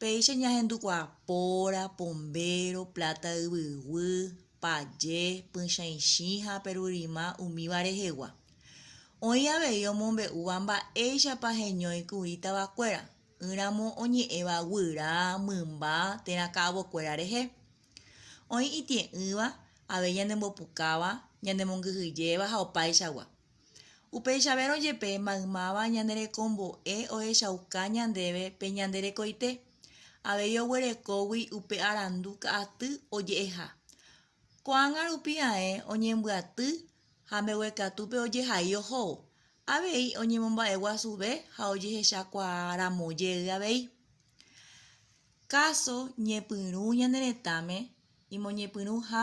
Péicha ñahendukuaa póra, pombéro, pláta yvyguy, paje, pychãichĩ ha perurima umíva rehegua. Oĩ avei omombe'úva mba'éichapa heñói kuri tavakuéra, ỹramo oñe'ẽva guyra, mymba térã ka'avokuéra rehe. Oĩ itie'ỹva avei ñanembopukáva, ñanemongyhyjéva ha opaichagua. Upeichavérõ jepe maymáva ñane rekombo'e ohechauka ñandéve pe ñande rekoite, avei oguerekógui upe arandu ka'aty oje'eha. Ko'ág̃a rupi ae oñembyaty ha mbeguekatúpe ojehai ohóvo, avei oñemomba'e guasuve ha ojehechakuaa ramo jey avei. Káso ñepyrũ ñane retãme imoñepyrũ ha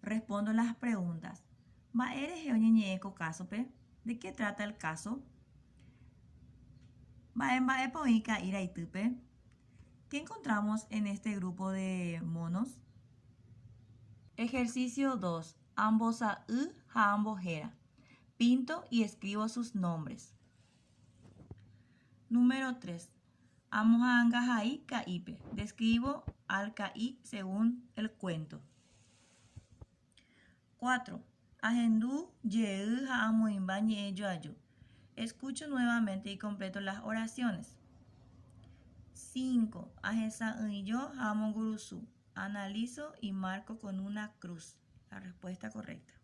Respondo las preguntas. Mba'e rehe oñeñe'ẽ ko kásope? De qué trata el caso? Mba'e mba'épa oĩ ka'i raitýpe? Qué encontramos en este grupo de monos? Ejercicio 2. Ambosa'y ha ambohéra. Pinto y escribo sus nombres. Número 3. Amoha'anga hai ka'ípe. Describo al ka'i según el cuento. 4. Ahendu jey ha amoĩmba ñe'ẽ joaju. Escucho nuevamente y completo las oraciones. 5. Ahesa'ỹijo ha amongurusu. Analizo y marco con una cruz la respuesta correcta.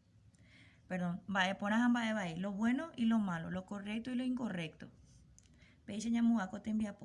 Perdón, mba'e porã ha mba'e vai, lo bueno y lo malo, lo correcto y lo incorrecto. Péicha ñamo'ag̃a ko tembiapo.